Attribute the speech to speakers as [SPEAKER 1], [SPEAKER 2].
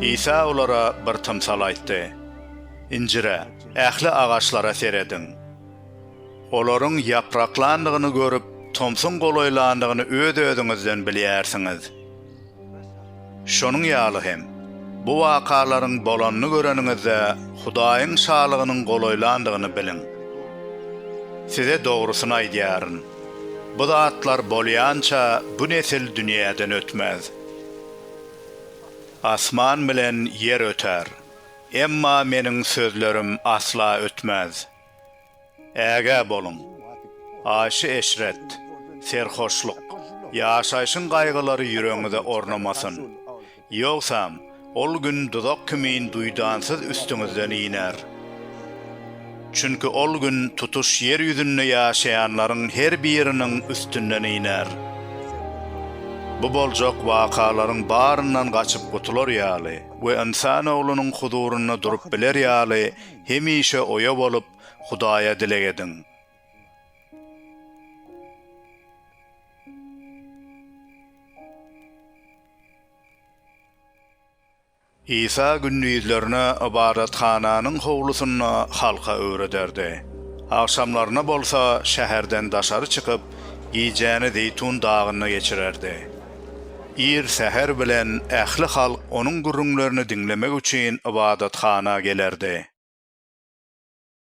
[SPEAKER 1] Isa olara bir tymsal aýtdy, Injire, ähli agaçlara serediň. Olaryň ýapraklandygyny görüp, tomsuň golaýlandygyny öz-özüňizden bilýärsiňiz. Şonuň ýaly hem, bu wakalaryň bolanyny göreniňizde, Hudaýyň Şalygynyň golaýlandygyny biliň. Size dogrusyny aýdýaryn, bu zatlar bolýança, bu nesil dünýäden ötmez. Asman bilen ýer öter, emma Meniň sözlerim asla ötmez. Ägä boluň! Aýşy-eşret, serhoşlyk, ýaşaýşyň gaýgylary ýüregiňize ornamasyn. Ýogsam, ol gün duzak kimin duýdansyz üstüňizden iner. Çünki ol gün tutuş ýer ýüzünde ýaşaýanlaryň her biriniň üstünden iner. Bu boljak wakalaryň baryndan gaçyp gutular ýaly we Ynsan Oglunyň huzurynda durup biler ýaly hemişe oýa bolup, Hudaýa dileg ediň. Isa gündizlerine ybadathananyň howlusynda halka öwrederdi. Agşamlaryna bolsa şäherden daşary çykyp, gijäni Zeýtun dagynda geçirerdi. Ir säher bilen ähli halk onuň gürrüňlerini diňlemek üçin ybadathana gelerdi.